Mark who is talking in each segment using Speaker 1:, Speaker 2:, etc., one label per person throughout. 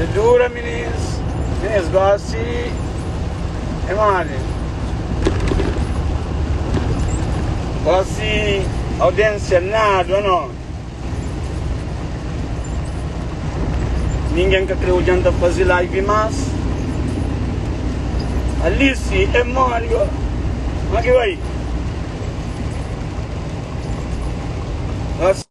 Speaker 1: É dura minins Minins gosi é mole Gosi audiênsia nada no Ninguém ka kreu djanta fazi live mas Alice é mole go Kuma ki bai Gosi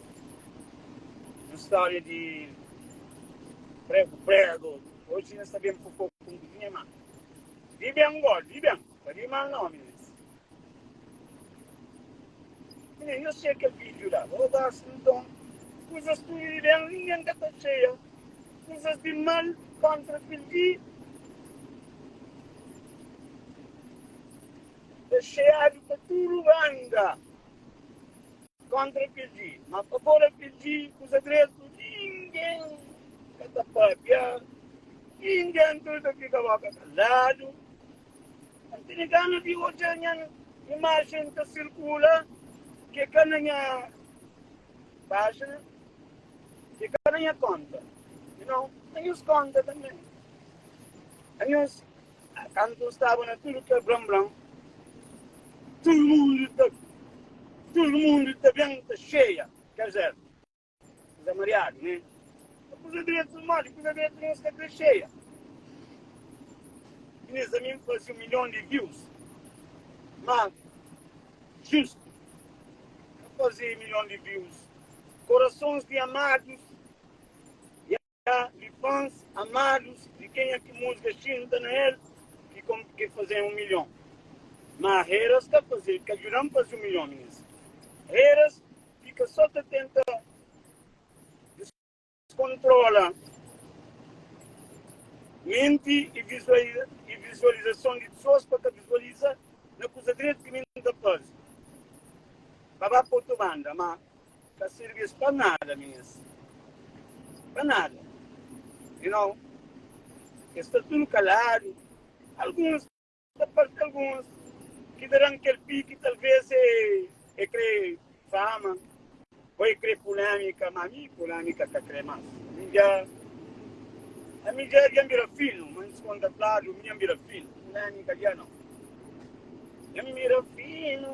Speaker 1: un stória di pregu-pregu Oji nu sta ben ku poku Un ku nha ma Di ben gó, di ben Pa di mal na ómis Minha, nhos txeia kel vídiu la Ô gósi nton Kuzas tudu di ben Ningen ka ta txeia Kuzas di mal Kóntra kel di Ta txeiadu pa tudu banda Kontra kel di mas pa fora kel di kusa dretu ningen ka ta pâpia ningen tudu ta fika boka kaladu N tene gana di odja nha imajen ta sirkula ke ka na nha pájina ke ka na nha konta y nau na nhus konta tanbe na nhus Kantu N staba na tudu kel blan-blan, tudu mundu ta, tudu mundu ta ben ta xeia kel zéru. Kuza mariadu, né? Má kuza dretu, modi kuza dretu nu sta ta xeia? Ki nes da mi N faze un milhon di views, má justu N faze milhon di views. Korasons di amadus. Ka li fans amadus di kenha ki musga xinta na el ki kom ke fazem um milhon ma heras ka faze ka djudam faze um milhon minhas heras fika so ta tenta descontrola menti e e visualizason di pessoas pa ka visualiza na kuza dretu ki mi ta faze pa ba pa otu banda ma Ka sirbi-s pa nada mes. Pa nada. Di nau, es sta tudu kaladu. Alguns ta parti alguns ki ta da-m kel piki, talvês e e krê fama ô e krê pulémika. Má ami, pulémika ka krê más. Mi dja, ami dja, dja N bira finu, ma N diskontratladu, mi dja N bira finu. Pulémika dja nau. Dja N bira finu.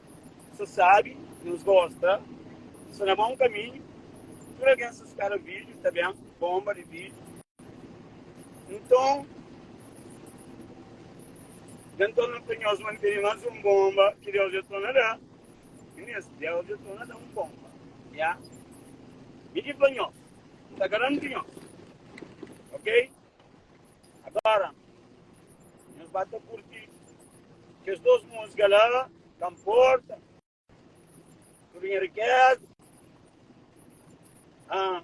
Speaker 1: Sa sabi nos gosta sa na bom kaminhu tudu algen sa spera vídeo ta ben bomba di vídeo nton dja nton na fla nhos ma nu tene más un bomba ki Deus dja torna da é mésmu Deus dja torna da un bomba ya mi ki fla nhos n ta garanti nhos ok Agora nos ba ta curti kes dos música la ka mporta tudo nha riqueza ah,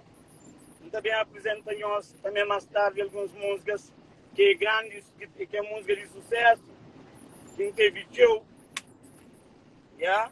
Speaker 1: N ta ben apresenta nhos também mais tarde alguns músicas que é grande, que é música de sucesso, que não teve tcheu, yeah?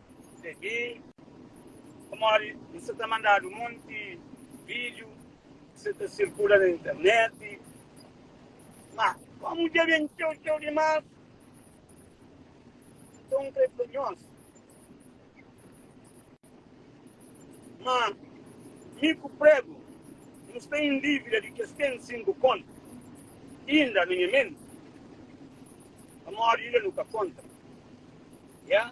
Speaker 1: Segi, pamodi N sa ta mandadu monti vídiu ki sa ta sirkula na interneti. Má, kómu dja ben txeu-txeu dimás, nton N krê fla nhos ma mi ku Prego nu sta en dívida di kes ten sinku kónta inda na nha menti, pamodi inda nu ka konta. Ya.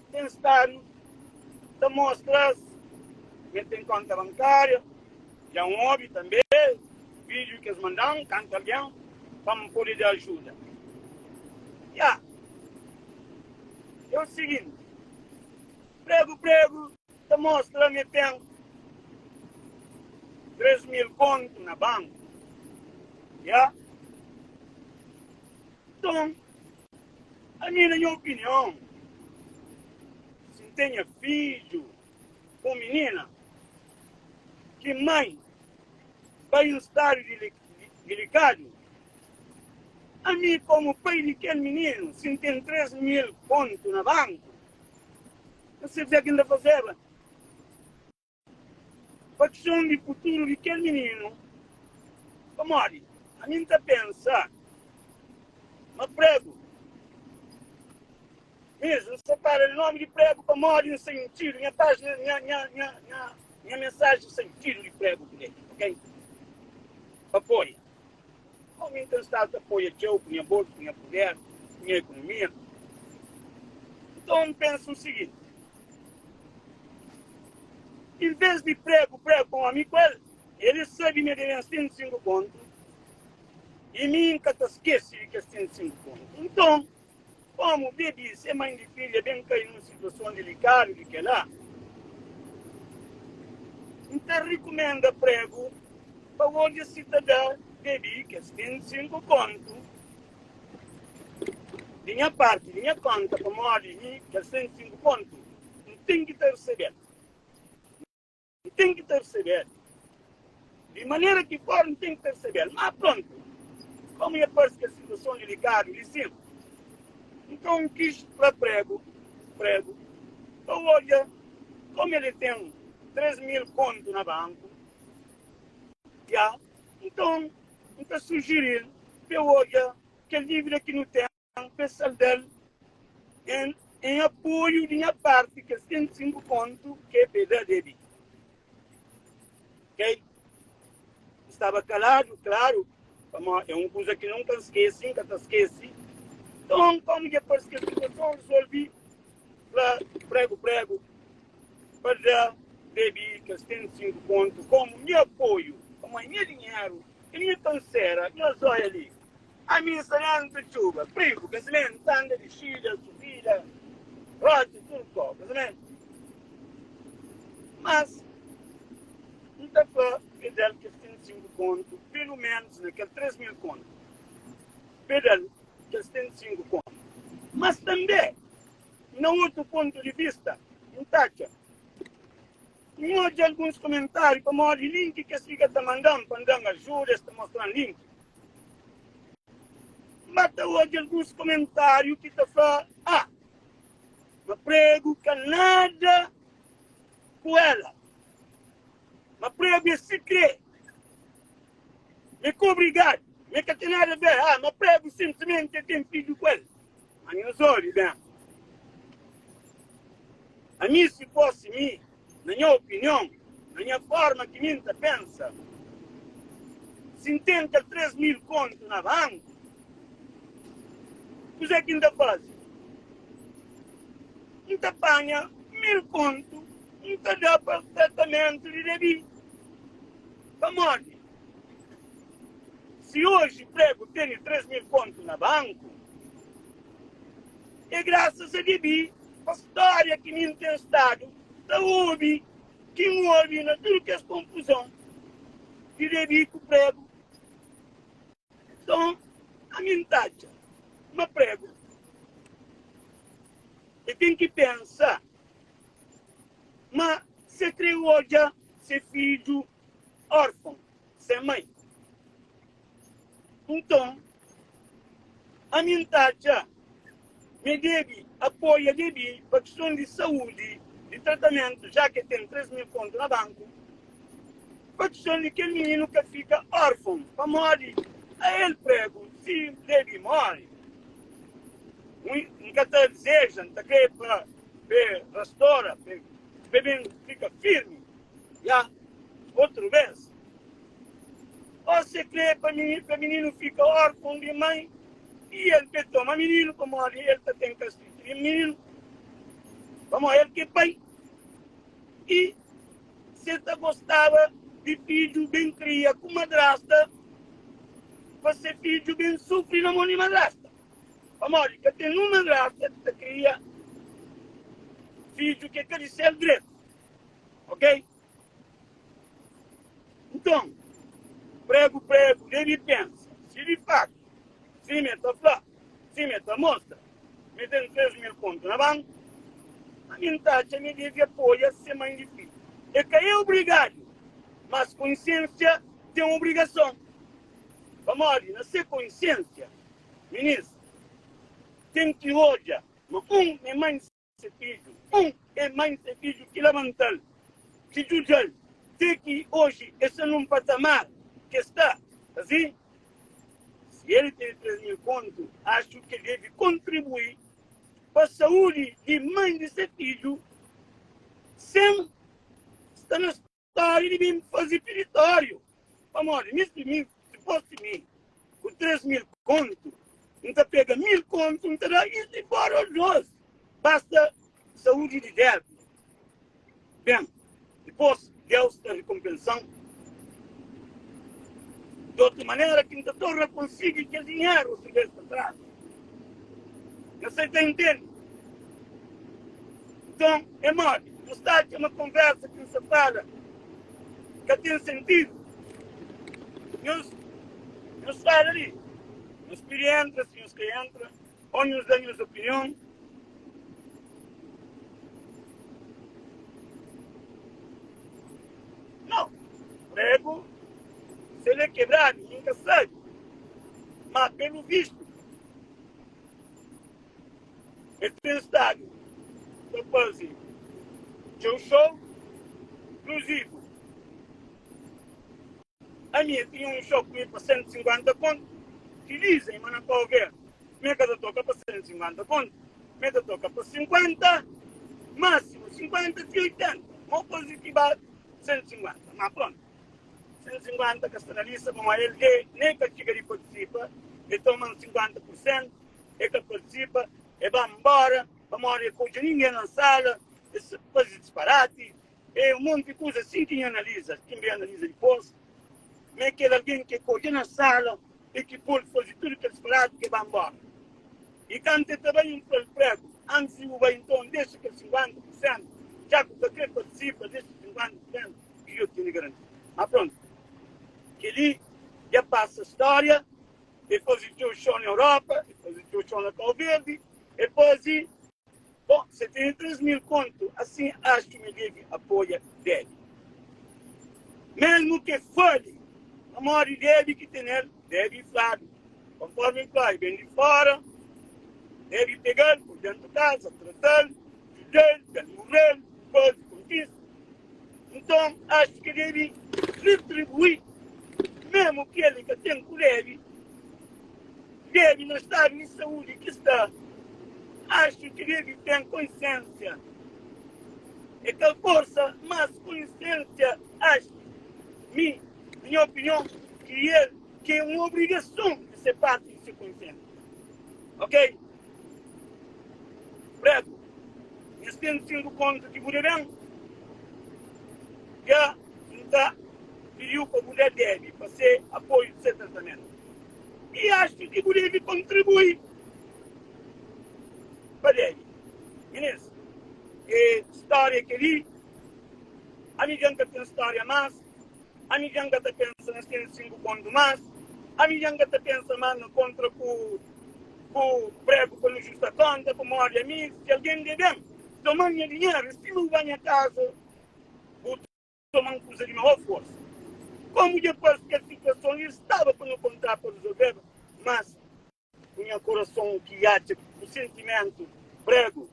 Speaker 1: Ten stadu ta mostra-s ma el ten kónta bankária. Dja N obi tanbê vídiu ki es manda-m kantu algen fla-m pode dja ajuda. Dja é o siginti, Pregu-Pregu ta mostra ma el ten três mil kóntu na banku. Dja Nton, Ami na nha opinion si N tenha fidju ku minina ki mai bai un stadu dilikadu ami komu pai di kel mininu si N ten 3 mil kontu na banku N sabia ki N ta fazeba. Pa kson di futuru di kel mininu, pamodi ami N ta pensa ma pregu mesmu N sta fala di nomi di pregu pamodi N sentidu nha pajina nha mensaji sentidu di pregu kle ok pa apoia. Omi n ten stadu ta poia txeu ku nha bolsu, ku nha puder, ku nha ekonomia. Nton n pensa un siginti, N vez di pregu, pregu pa un omi ku el, el e sabi ma e debe-m 105 kontu i mi n ka ta skese di kes 105 kontu. Nton. Komu bebi y se main di filha ben kai nun situason dilikadu di kela, N ta rikumenda pregu pa odja si ta da bebi kes 25 kontu di nha parti di nha konta, pamodi mi, kes 25 kontu, N ten ki ta resebel. N ten ki persebe-l. Di manera ki for, N ten ki persebe-l. Má prontu, kómu é parse ki es situason dilikadu li sin, nton N kis fla pregu, pregu pa odja kómu el é ten três mil kontu na banku. Dja nton N ta sujiri-l pa el odja kel dívida ki nu ten. N pe saldal en en apoiu di nha parti kes 105 kontu ke pe da Debbie. Kei N staba kaladu, klaru, pamo e un kuza ki nunka N skesi, N ka ta skesi. Nton, komu dja parse ke situason, N resolvi fla pregu pregu pa da Debbie kes 105 kontu komu nha apoiu, pamo e nha dinheru, e nha kansera, nha zóia li. Ami n sta dentu txuba prigu kazimentu ta anda di xida txuvida roti tur ko kazimentu mas n ta fla pedal kes ten sinku kontu pelu menus na kel tres mil kontu pedal kes ten sinku kontu mas tanbe na otu pontu di vista n ta atxa N odja alguns komentáriu pamodi link ki es fika ta manda-m pa N da-m ajuda, es ta mostra-m link. N ba ta odja alguns komentáriu ki ta fla, A! Ma pregu ka nada ku ela. Ma pregu é sikrê. Mê ka obrigadu. Mê ka ten nada bê. A! Ma pregu senprimenti é ten fidju ku el. Ma nhos ode ben. Ami, si fosi mi, na nha opinion, na nha forma ki mi N ta pensa, si N ten kel três mil kontu na banku, kuzê ki N ta faze? N ta panha mil kontu, N ta da pa tratamentu di Debbie. Pamodi, si oji pregu tene três mil kontu na banku, é grasas a Gaby pa stória ki mi N ten stadu ta obi ki N obi na tudu kes konfuzon di Gaby ku pregu. Nton, ami N ta atxa ma pregu é ten ki pensa. Má se krê odja se fidju órfon, sen mai. Nton, ami N ta atxa ma e debe apoia bebê pa kiston di saúdi, di tratamentu, já ke ten 3 mil kontu na banku. pa txon di kel mininu ka fika órfon, pamodi a el pregu si N debe móre. N ka ta dizeja, N ta krê pa be rastora, pa be ben fika firmi la otu bês. Ó se krê pa mininu fika órfon di mai i el be toma mininu, pamodi el ta ten kastigu di mininu, pamodi el ki é pai i Si el ta gostaba di fidju ben kria ku madrasta, pa se fidju ben sufri na mon di madrasta. Pamodi ka ten un madrasta ki ta kria fidju ki é ka di sel dretu. Ok? Nton, pregu-pregu debe pensa si di faktu, sima el ta fla, Sim e ta mostra. Mi ten tres mil kontu na banku. Ma mi nta atxa mi devi apoia se mãe di fidju. E ka e obrigadu, mas konsiensia ten obrigason. Pamodi na se konsiensia, minis ten ki odja ma un mi mãe. Se fidju, un e mai se fidju ki labanta-l, ki djudja-l, te ki oji e sta nun patamar ki e sta. Asin, si el tene três mil kontu, axu ki el debe kontribui pa saúdi di mai di se fidju sen sta na. Pare di bin faze piritóriu, pamodi misti mi, dipos di mi, ku tres mil kontu, N ta pega mil kontu, N ta da is di fora ol dos, basta saúdi di débil. Ben, dipos Deus ta rikonpensa-m di otu manera ki N ta torna konsigi kel dinheru otu bês pa tras. Nhos sai ta intende. Nton, é modi bu sta atxa ma konversa ki N sta fala ka ten sentidu? Nhos nhos fala li, nhos pidi entra si nhos ka entra ô nhos da nhos opinion. Nau, pregu, se el é kebradu, N ka sabe. Má pelu vistu, el ten stadu ta faze txeu xou. Inkluzivu, ami el tinha un xou ku mi pa sentu i sinkuénta kontu, ki liza i mana pa over mi el ka ta toka pa sentu i sinkuénta kontu, ma el ta toka pa sinkuénta, másimu sinkuénta ti oitenta, mau koza ki bati sentu i sinkuénta. Má prontu. 150 ka sta na lista pamó el e nem ka txiga di partisipa e toma un 50 pur sentu e ka partisipa e ba nbora pamodi e ka odja ningen na sala e sa fazi disparati e un monti kuza asin ki nho analiza ki nbe analiza dipos ma e kel algen ke ka odja na sala e ki pol fazi tudu kel disparati ke ba nbora e kantu e ta bai un fla-l pregu antis di bu bai nton dexa kel 50 pur sentu dja ku ka kre partisipa dexa 50 pur sentu. Djuda tene garantia. Má prontu, kel-li dja pasa stória. El faze txeu xou na Europa, el faze txeu xou na Kau Verdi, el faze bo 73 mil kontu. Asin, axu ma el debe apoia Debbie, mésmu ki el fale pamodi Debbie ki tene-l. debe fladu, konformi el klori ben di fora, debe pega-l, pô-l dentu kaza, trata-l, djuda-l, da-l murel, faze kontise. Nton, achi ka debe ritribui, memu kel li ka ten ku debe, debe na stadu di saúdi ki sta, achi ki debe ten konsiênsia. É kal forsa mas konsiênsia achi mi Na nha opinion, ki el ke un obrigason di se parti di se konsentu. Ok. Pretu, nhas ten sinku kontu ki bu deben. Dja N ta pidiu pa bu da Debi pa se apoiu di se tratamentu. I axu ki bu debi kontribui pa Debi. Minis, e storia keli. Ami dja N ka ten storia mas. Ami dja N ka ta pensa na sen sinku kontu más Ami dja N ka ta pensa más na kontra ku bu pregu pa nu justa konta pamodi ami si algen debe-m toma-l nha dinheru i si nu ba nha kaza bu toma-l kuza di maó forsa Komu dja pas kes situason i staba pa nu konta pa rizolveba mas ku nha korason ki atxa ku sentimentu pregu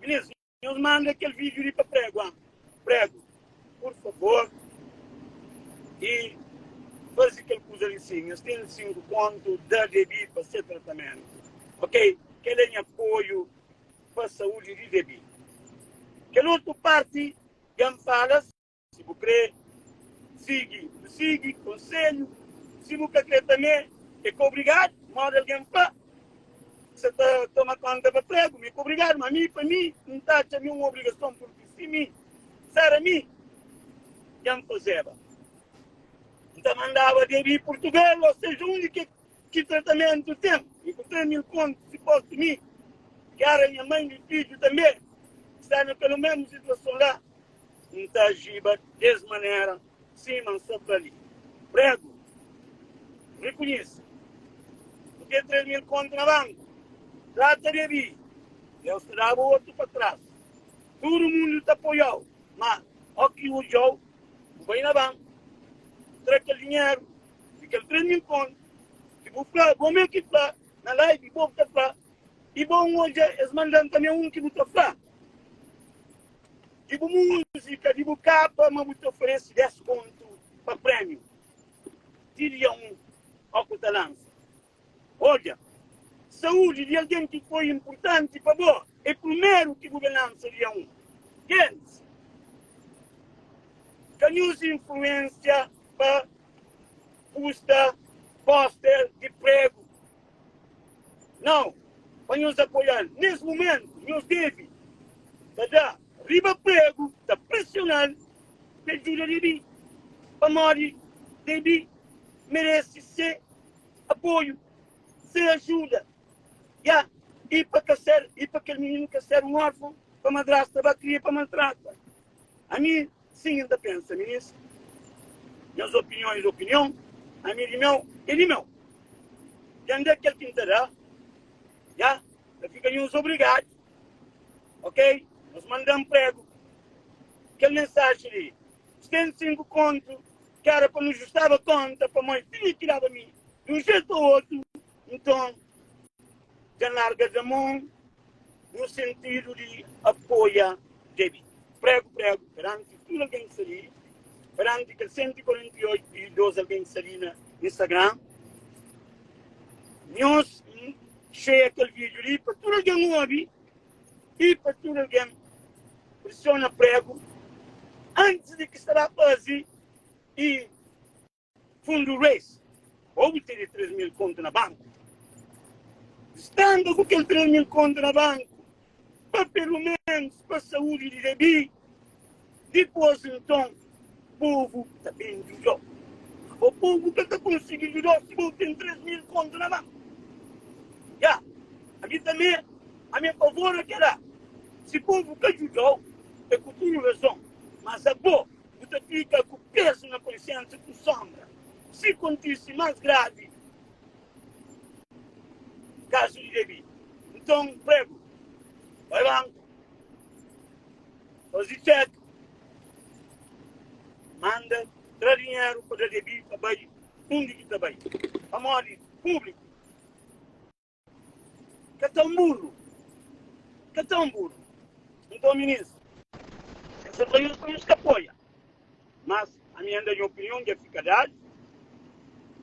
Speaker 1: Minis Nhos manda kel vídeo li pa prego am prego pur favor e fazi kel kuza li sin nhos ten 5 kontu da debi pa se tratamentu ok kel é nha apoio pa saúde di debi kel otu parti dja am fala. Si bu kre sigi, bu sigi konselhu, si bu ka kre tamê e ka obrigadu. Modi algen pa sa ta toma konta pa pregu, ma e ka obrigadu. Ma ami, pa mi, N ta atxa mi un obrigason, purki si mi sara mi, dja N fazeba. N ta mandaba de di Purtugal o seja undi ke ki tratamentu ten. Mi ku tres mil kontu si postu mi, kera nha mãe, mi fidju tambe sta na kelu mesmu situason la. N ta ajiba des manera sima N sta ta li pregu. N rikonhise N ten três mil kóntu na banku. N trata de abi, Deus ta daba otu pa tras. Tudu mundu ta apoiau, má óki odjau, bu bai na banku, bu tra kel dinheru di kel três mil kóntu ki bu fla bo mê ki fla na live, bo bu ta fla i bo N odja es mandan tanbê un ki bu ta fla. di bu múzika, di bu kapa ma bu ta oferese 10 kontu pa prémiu ti dia 1 ó ku ta lansa. Odja, Saúdi di algen ki foi inpurtanti pa bo é prumeru ki bu ben lansa dia 1. Gens, ka nu uza influênsia pa pusta póster di pregu. Nau, pa nhos apoia-l nes mumentu, nhos debe ta da riba pregu, ta presiona-l pa el djuda Debi, pamodi Debi merese se apoiu, se ajuda. Ya, i pa ka ser, i pa kel mininu ka ser un orfon pa madrasta ba kria pa maltrata. Ami. Sim, el ta pensa, Minis, nhos opinion e opinion, ami di meu e di meu. Tende kel ki N ta da, ya ta fika nhos obrigadu. Ok, nhos manda mpregu. Kel mensaji li, N ten sinku kontu, ki era pa nu justaba konta, pamó el tinha ki daba mi di un jetu o otu. Nton, dja N larga da mon no sentidu di apoia Debbie pregu pregu peranti tudu algen ki sta li, peranti kel 148.002 algen ki sta li na Instagram. Nhos share kel video li pa tudu algen obi i pa tudu algen prisiona pregu antis di ki sta ba fazi i. Fundu Race, Obu tene 3 mil kontu na banku? Standa ku kel 3 mil kontu na banku pa peloménus pa saúdi di bebê. Dipôs nton, povu ta ben djuda-u. Ô povu ka ta konsigi djuda-u si bo ten 3 mil kontu na banku. Ya, ami tanbê, ami é favor na kel-la. Si povu ka djuda-u, é ku tudu razon. Má abo. Bu ta fika ku pezu na konsiénsa ku sónbra si kontise más gravi kazu di Debi. Nton, pregu, bai banku, faze txek, manda tra dinheru pa da Debi pa bai undi ki ta bai, pamodi públiku. Ka ta un burru. Ka ta un burru. Nton minis. Es é traídos pa nhos ka apoia. Mas ami anda nha opinion dja fika dadu.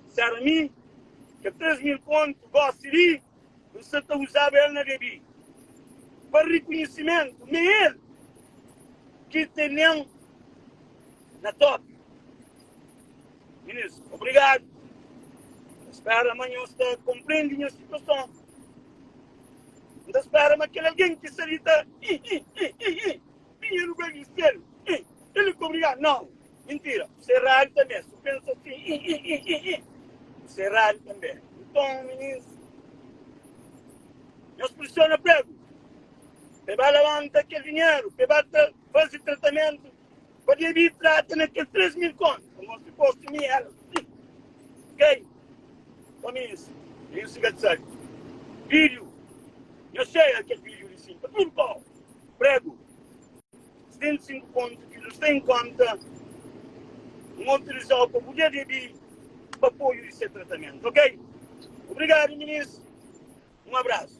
Speaker 1: Sera mi ke três mil kontu gosi di N sa ta uzaba el na bebi. Pa rikunhisimentu me el ki tenem na topi. Minis, obrigadu. N spera ma nhos ta konprendi nha situason. N ta spera ma kel algen ki sta li ta hi-hi-hi-hi-hi di nha lugar di sel. Hi, el li ka obrigadu. Nau, mintira. Bu sta eradu tanbe. Si bu pensa asin, hi-hi-hi-hi-hi, bu sta eradu tanbe. Nton, minis, nhos prisiona pregu pa e ba labanta kel dinheru pa e ba ta faze tratamentu Pabia di prata na kes três mil kónta. Ka mostra gostu mi el ih Kei pa mi es Tenho se ga tsai Vídeo Nha cheia kel vídeo li sin pa tudu kau Prego Setenta e sinku kontu ki nu sta en kónta N mo utilizau pa bu dia di bi pa apoio di se tratamentu ok Obrigadu minis Un abrasu.